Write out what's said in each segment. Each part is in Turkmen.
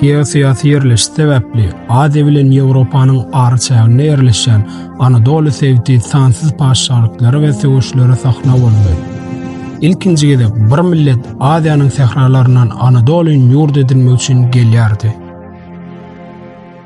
Geosyýasy ýerleşiş sebäpli Aziýa bilen Ýewropanyň araçäginde ýerleşýän Anadoly sebiti sansyz patyşalyklara we söweşlere sahna boldy. Ilkinji gezek bir millet Aziýanyň sähralaryndan Anadolyn ýurt edinmek üçin gelýärdi.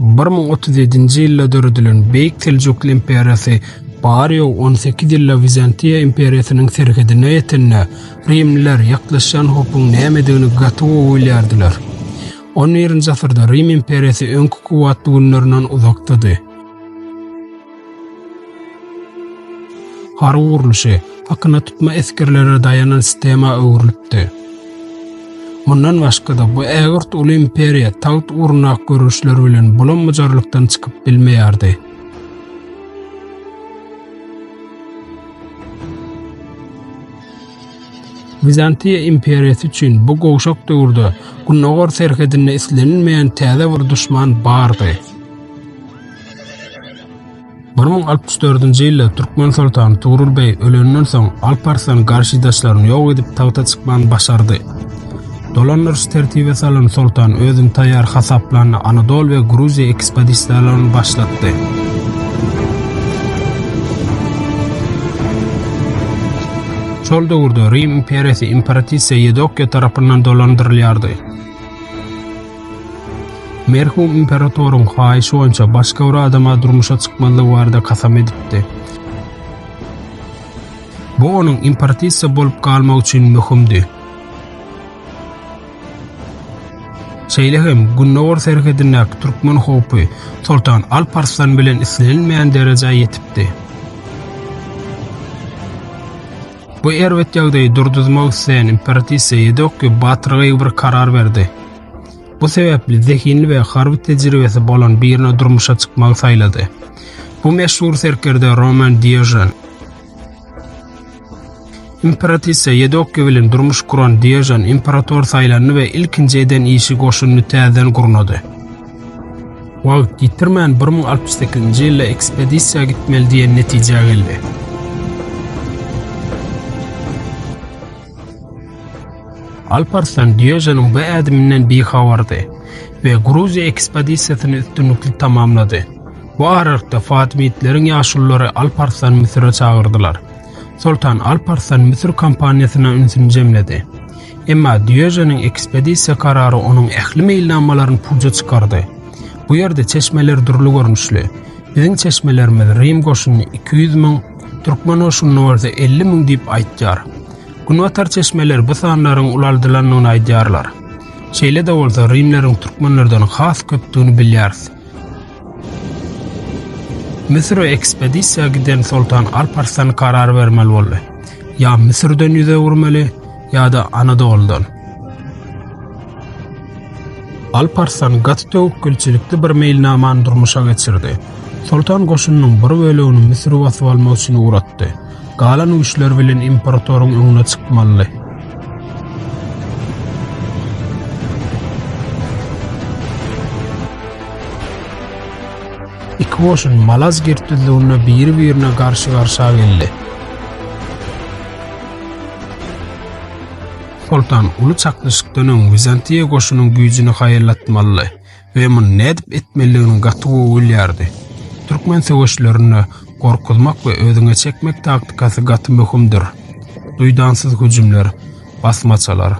Bir müň otuz ýedinji ýylda döredilen Beýik Seljukly imperiýasy barýogy on sekiz ýylla Wizantiýa imperiýasynyň serhedine ýetende, rimliler ýaklaşýan howpuň nämedigini gaty gowy bilýärdiler. On birinji asyrda Rim imperiýasy öňki kuwwatly günlerinden uzakdady. Harby gurluşy hakyna tutma esgerlere daýanan sistema öwrülipdi. Mundan başga-da bu ägirt uly imperiýa tagt ugrundaky göreşler bilen bulam-bujarlykdan çykyp bilmeýärdi. Wizantiýa imperiýasy üçin bu gowşak döwürde gündogar serhedinde islenilmeýän täze bir duşman bardy. Bir müň altmyş dördünji ýylda türkmen soltany Tugrul beý ölenden soň Alp Arslan garşydaşlaryny ýok edip tagta çykmany başardy. Dolandyryş tertibe salan soltan özüni taýýar hasaplandy, Anadol we Gruziýa ekspedisiýalaryny başlatdy. Şol döwürde Rim imperiýasy imperatrisa Ýedokýa tarapyndan dolandyrylýardy. Merhum imperatoryň haýyşy boýunça başga bir adama durmuşa çykmazlygy barada kasam edipdi. Bu onuň imperatissiýa bolup galmagy üçin möhümdi. Şeýle hem gündogar serhedindäki türkmen howpy Soltan Alp Arslan bilen islenilmeýän derejä ýetipdi. Bu erbet ýagdaýy durduzmak isleýän imperatrisa Ýedokki batyrgaýgy bir karar berdi. Bu sebäpli zehinli we harby tejribesi bolan birine durmuşa çykmagy saýlady. Bu meşhur serkerde Roman Diojen. Imperatrisa Ýedokki bilen durmuş kuran Diojen imperator saýlandy we ilkinji eden işi goşunyny täzeden gurnady. Wagt ýitirmän bir müň altmyş sekizinji ýylda ekspedisiýa gitmeli diýen netijä geldi. Alparslan Dýöjeniň bu ädiminden bihabardy we Gruziýa ekspedisiýasyny üstünlikli tamamlady. Bu aralykda Fatimitleriň ýaşululary Alparslany Müsüre çagyrdylar. Soltan Alp Arslan Müsür kampaniýasyna ünsüni jemledi. Emma Dýöjeniň ekspedisiýa karary onuň ähli meýilnamalaryny puja çykardy. Bu ýerde çeşmeler dürli görnüşli. Biziň çeşmelerimiz Rim goşuny iki ýüz müň, türkmen goşunyny bolsa elli müň diýip aýtýar. Günbatar çeşmeleri bu sanlaryň ulaldylandygyny aýdýarlar. Şeýle-de bolsa, rimleriň türkmenlerden has köpdügini bilýäris. Müsüre ekspedisiýa giden Soltan Alp Arslan karar bermeli boldy. Ýa Müsürden ýüz öwürmeli, ýa-da Anadoludan. Alp Arslan gaty töwekgelçilikli bir meýilnamany durmuşa geçirdi. Soltan goşunynyň bir bölegini Müsüre basyp almak üçin ugratdy. Galan güýçler bilen importoryň öňüne çykmalydy. Iki goşun Malaz girtdizliginde biri-birine garşy-garşa geldi. Soltan uly çaknyşykdan öň Wizantiýa goşunyň güýjüni haýallatmalydy. we muny nädip etmelidigini gaty gowy bilýärdi. Türkmen söweşlerinde gorkuzmak we özüňe çekmek taktikasy gaty möhümdir. Duýdansyz hüjümler, basmaçalar,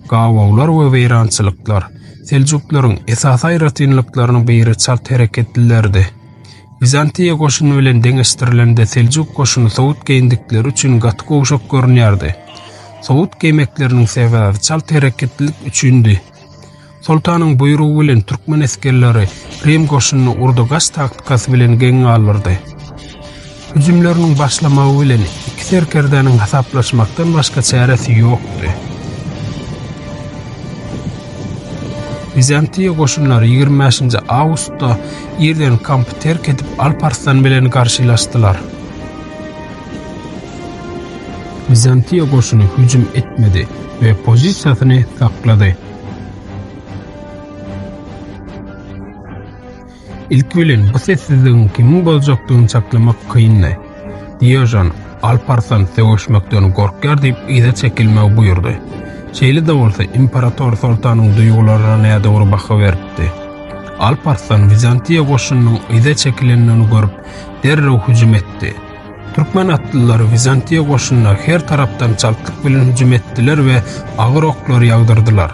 gawawlar we weýrançylyklar seljuklaryň esasy aýratynlyklarynyň biri çalt hereketlilerdi. Wizantiýa goşuny bilen deňeşdirilende seljuk goşuny sowut geýindikleri üçin gaty gowşak görünýärdi. Sowut geýmekleriniň sebäbi çalt hereketlilik üçindi. Soltanyň buýrugy bilen türkmen esgerleri Rim goşunyny urda-gaç taktikasy bilen geň galdyrdy. Hüjümleriniň başlamagy bilen iki serkerdäniň hasaplaşmakdan başga çäresi ýokdy. Bizantiýa goşunlary ýigrimi bäşinji awgustda irden kampy terk edip Alp Arslan bilen garşylaşdylar. Bizantiýa goşuny hüjüm etmedi we pozisiýasyny saklady. Ilki bilen bu sessizligiň kimiň boljakdygyny çaklamak kyndy. Diojon, Alparslan sögüşmekden gorkýar diýip yza çekilmegi buýurdy. Şeýle-de bolsa, imperator soltanyň duýgularyna nädogry baha beripdi. Alparslan Wizantiýa goşunynyň yza çekilendigini görüp, derrew hüjüm etdi. Türkmen atlylary wizantiýa goşunyna her tarapdan çaltlyk bilen hüjüm etdiler we agyr oklar ýagdyrdylar.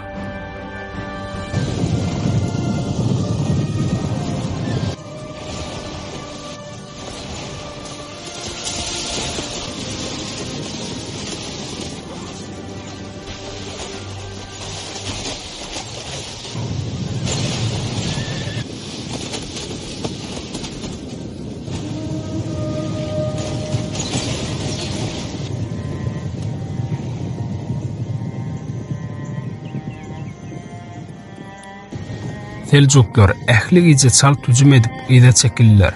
Seljuklar ähli gije çalt hüjüm edip yza çekildiler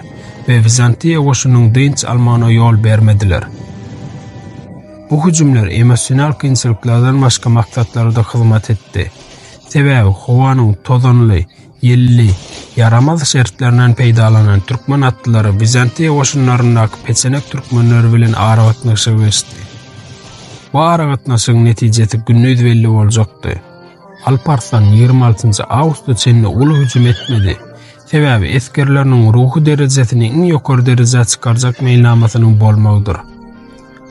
we Wizantiýa goşunyň dynç almagyna ýol bermediler. Bu hüjümler emosional kynçylyklardan başga maksatlara-da hyzmat etdi. Sebäbi howanyň tozanly, ýelli, ýaramaz şertlerinden peýdalanan türkmen atlylary Wizantiýa goşunlaryndaky peçenek türkmenleri bilen aragatnaşyga geçdi. Bu aragatnaşygyň netijesi gündiz belli boljakdy. Alparslan 26-njy awgusta çenli uly hüjüm etmedi. Sebäbi esgerleriniň ruhy derejesini iň ýokary derejä çykarjak meýilnamasynyň bolmagydyr.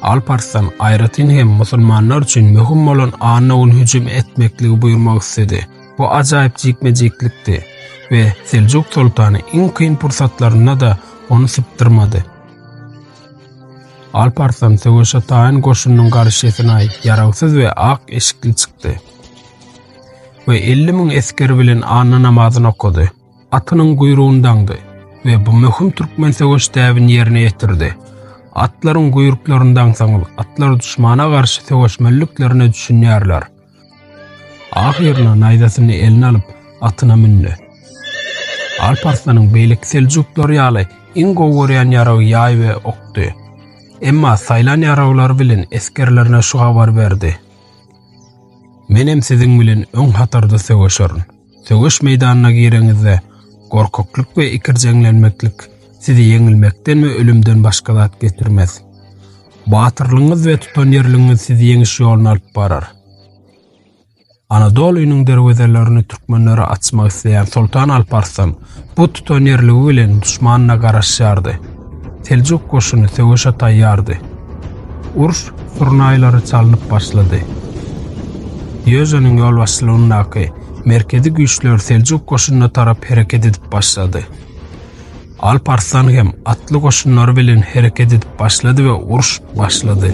Alparslan aýratyn hem musulmanlar üçin möhüm bolan anna gün hüjüm etmekligi buýurmak istedi. Bu ajaýyp jikme-jiklikdi we Seljuk soltany iň kyn pursatlarynda-da ony sypdyrmady. Alparslan söweşe taýyn goşunyň garşysyna ýaragsyz we ak eşikli çykdy we elli müň esgeri bilen anna namazyny okady. atynyň guýrugyny daňdy we bu möhüm türkmen söweş däbini ýerine ýetirdi. Atlaryň guýruklaryny daňsaňyz, atlar duşmana garşy söweşmeliliklerine düşünýärler. Ahyryna naýzasyny eline alyp, atyna mündi. Alp Arslanyň beýleki seljuklar ýaly iň gowy görýän ýaragy ýaý we okdy. Emma saýlan ýaraglary bilen esgerlerine şu habar berdi. Menem siziň bilen öň hatarda söweşerin. Söweş meýdanyna gireňizde, gorkaklyk we ikirjeňlenmeklik sizi ýeňilmekden we ölümden başga zat getirmez. Batyrlygyňyz we tutanýerligiňiz sizi ýeňiş ýoluna alyp barar. Anadolynyň derwezelerini türkmenlere açmak isleýän Soltan Alp Arslan Bu tutanýerligi bilen duşmanyna garaşýardy. Seljuk goşuny söweşe taýýardy. Uruş surnaýlary çalynyp başlady. Ýöjeniň ýolbaşçylygyndaky merkezi güýçler seljuk goşunyna tarap hereket edip başlady. Alp Arslan hem atly goşunlary bilen hereket edip başlady we uruş başlady.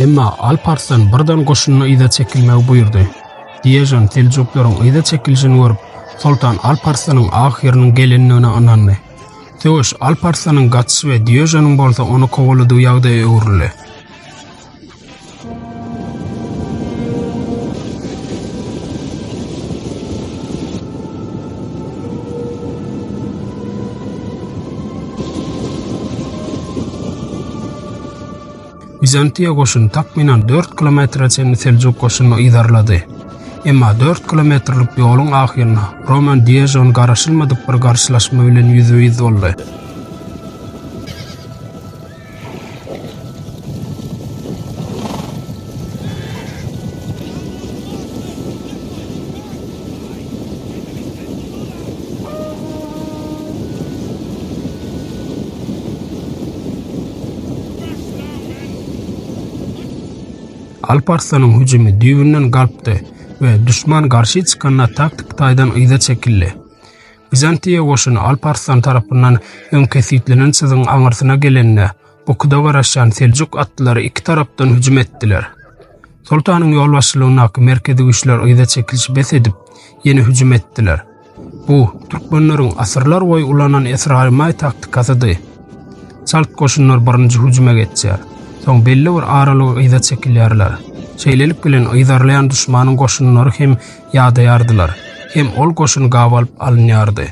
Emma Alp Arslan birden goşunyna yza çekilmegi buýurdy. Diežan seljuklaryň yza çekilişini görüp, soltan Alp Arslanyň ahyrynyň gelendigine ynandy. Söweş Alp Arslanyň gaçyşy we Diežanyň bolsa ony kowaladygy ýagdaýa öwrüldi. Wizantiýa goşuny takmynan dört kilometre çenli seljuk goşunyny yzarlady. Emma dört kilometrlik ýoluň ahyrynda Roman Diežon garaşylmadyk bir garşylaşma bilen ýüzbe-ýüz boldy. Alp Arslanyň hüjümi düýbünden galpdy we düşman garşy çykanda taktik taýdan yza çekildi. Bizantiýa goşuny Alp Arslan tarapyndan öň kesitlenen çyzygyň aňyrsyna gelende, Okuda garaşýan seljuk atlylary iki tarapdan hüjüm etdiler. Soltanyň ýolbaşçylygyndaky merkezi güýçler yza çekilişi bes edip, ýene hüjüm etdiler. Bu, türkmenleriň asyrlar boýy ulanan esrarymay taktikasydy. Çalt goşunlar birinji hüjüme geçýär. Soň belli bir aralyga yza çekilýärler. Şeýlelik bilen yzarlaýan düşmanyň goşunlary hem ýadaýardylar, hem ol goşun gabalyp alynýardy.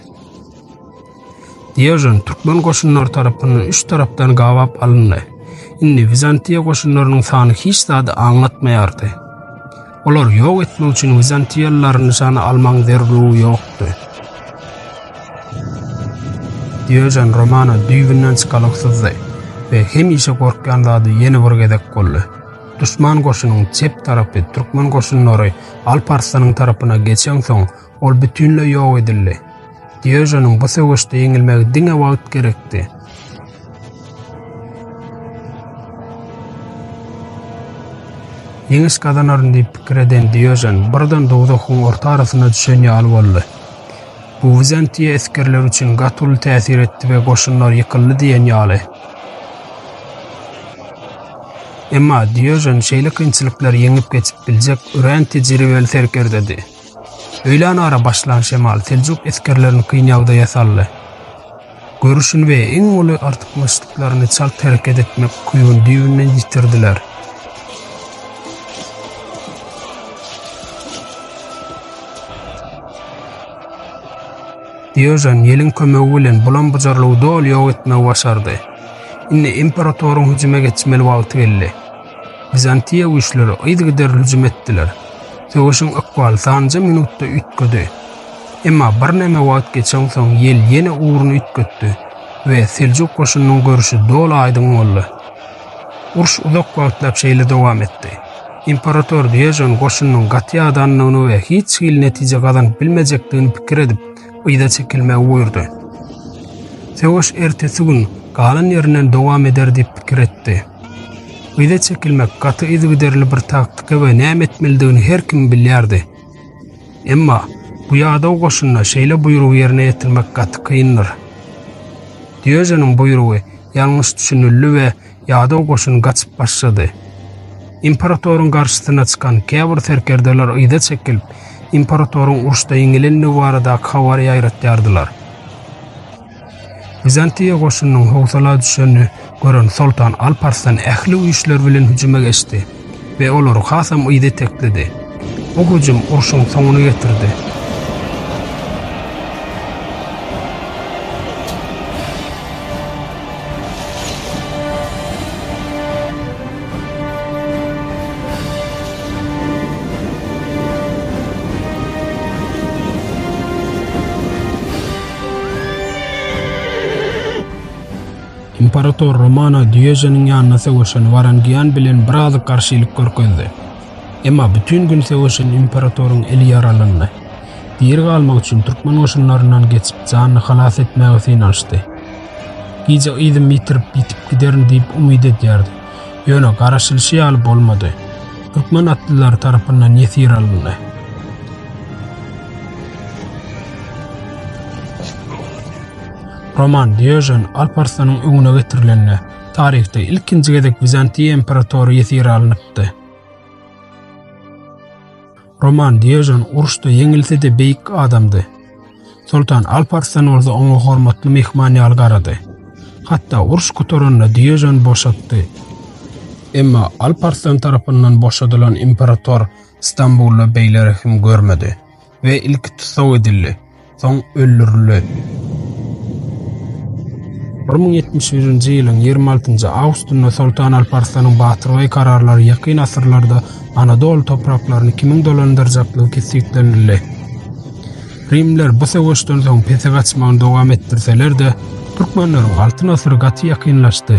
Dýojen türkmen goşunlary tarapyndan üç tarapdan gabap alyndy. Indi Wizantiýa goşunlarynyň sany hiç zady aňlatmaýardy. Olary ýok etmek üçin wizantiýalylary nyşana almagyň zerurlygy ýokdy. Dýojen Romana düýbünden çykalyksyzdy we hemişe gorkýan zady ýene bir gezek boldy. Duşman goşunyň çep tarapy türkmen goşunlary Alp Arslanyň tarapyna geçensoň, Ol bütinleý ýok edildi. Dýežonyň bu söweşde ýeňilmegi diňe wagt gerekdi. Ýeňiş gazanaryn diýip pikir eden Dýežon birden dowzahyň orta arasyna düşen ýaly boldy. Bu Wizantiýa esgerleri üçin gaty uly täsir etdi we goşunlar ýykyldy diýen ýaly. Emma Dýežon şeýle kynçylyklary ýeňip geçip biljek örän tejribeli serkerdedi. Öýlän ara başlan şemal seljuk esgerlerini kyn ýagdaýa saldy. Görüşini we iň uly artykmaçlyklaryny çalt hereket etmek küýüni düýbünden ýitirdiler. Diojen ýeliň kömegi bilen bulam-bujarlygy doly ýok etmegi başardy. Indi imperatoryň hüjüme geçmeli wagty geldi. Wizantiýa güýçleri yzygiderli hüjüm etdiler. Söweşiň ykbaly sanjy minutda üýtgedi. Emma birneme wagt geçensoň ýel ýene ugruny üýtgetdi we seljuk goşunynyň görşi doly aýdyň boldy. Uruş uzak wagtlap şeýle dowam etdi. Imperator Dýojen goşunynyň gaty ýadandygyny we hiç hili netije gazanyp bilmejekdigini pikir edip, yza çekilmegi buýurdy. Söweş ertesi gün galan ýerinden dowam eder diýip pikir etdi. Yza çekilmek gaty yzygiderli bir taktika we näme etmelidigini her kim bilýärdi. Emma bu ýadaw goşunda şeýle buýrugy ýerine ýetirmek gaty kyndyr. Dýöjeniň buýrugy ýalňyş düşünildi we ýadaw goşun gaçyp başlady. Imperatoryň garşysyna çykan käbir serkerdeler yza çekilip, imperatoryň uruşda ýeňilendigi baradaky habary ýaýratýardylar. Wizantiýa goşunynyň howsala düşenini gören soltan Alp Arslan ähli güýçleri bilen hüjüme geçdi we olary hasam yza itekledi. Bu hüjüm urşuň soňuny getirdi. Imperator Romana Dýejeniň ýanyna söweşen Warangian bilen biraz garşylyk görkezdi. Emma bütin gün söweşen imperatoryň eli ýaralandy. Diri galmak üçin türkmen goşunlaryndan geçip janyny halas etmäge synanyşdy. Gije yzym ýitirip ýitip giderin diýip umyt edýärdi. Ýöne garaşylyşy ýaly bolmady. Türkmen atlylary tarapyndan ýesir alyndy. Roman Diojen Alparslanyň öňüne getirilende, taryhda ilkinji gezek Wizantiýa imperatory ýesir alnypdy. Roman Dýojen uruşda ýeňilse-de beýik adamdy. Soltan Alp Arslan bolsa oňa hormatly myhman ýaly garady. Hatda uruş gutaranda Dýojen boşatdy. Emma Alp Arslan tarapyndan boşadylan imperator Stambulda beýle rehim görmedi we ilki tussag edildi. soň öldürilen. 1071-nji ýylyň ýigrimi altynjy awgustynda Soltan Alparslanyň batyrgaý kararlary ýakyn asyrlarda Anadol topraklaryny kimiň dolandyrjakdygy kesgitlenildi. Rimler bu söweşden soň pese gaçmagyny dowam etdirseler-de, türkmenleriň Altyn asyry gaty ýakynlaşdy.